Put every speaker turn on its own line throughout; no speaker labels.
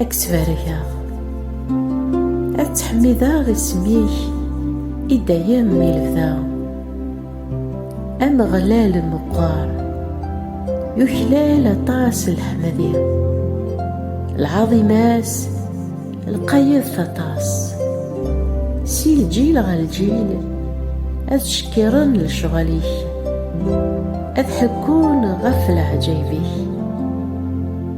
Ad k-ttbarkeɣ, ad ttḥemmideɣ isem-ik i dayem i lebda. Ameɣlal meqqer, yuklal aṭas leḥmadi. Lɛaḍima-s lqayet aṭas. Si lǧil ɣer lǧil, ad ttcekkiren lecɣal-ik, ad ḥekkun ɣef leɛǧayeb-ik.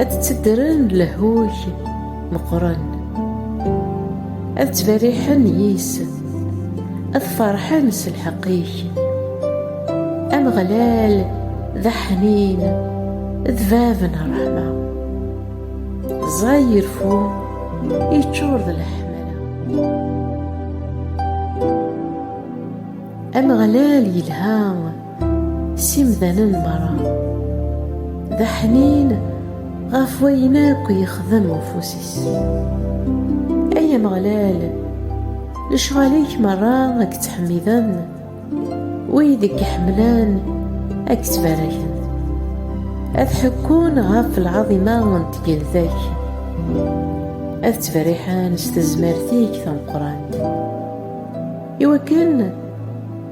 ad d-tteddren lehhuj meqqren ad ttberriḥen yis ad ferḥen s lḥeqq-ik ameɣlal d aḥnin d bab n ṛṛeḥma ẓẓay irfu yeččur d leḥmala ameɣlal yelha s imdanen merra, d aḥnin ɣef wayen akk yexdem ufus-is. Ay Ameɣlal, lecɣal-ik merra ad k-ttḥemmiden, wid i k-iḥemmlen ad k-ttbaraken, ad ḥekkun ɣef lɛaḍima n tgelda-k, ad ttberriḥen s tezmert-ik tameqqrant, iwakken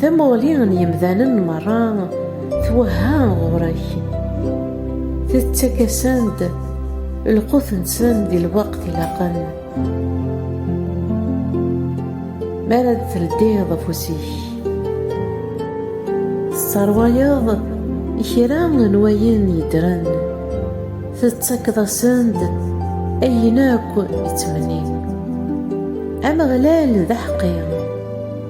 Tamuɣli n yemdanen merra twehha ɣur-k, tettak-asen-d lqut-nsen di lweqt ilaqen. Mi ara d-teldiḍ afus-ik, tesserwayeḍ kra n wayen yeddren, tettakeḍ-asen-d ayen akk i ttmennin. Ameɣlal d aḥeqqi.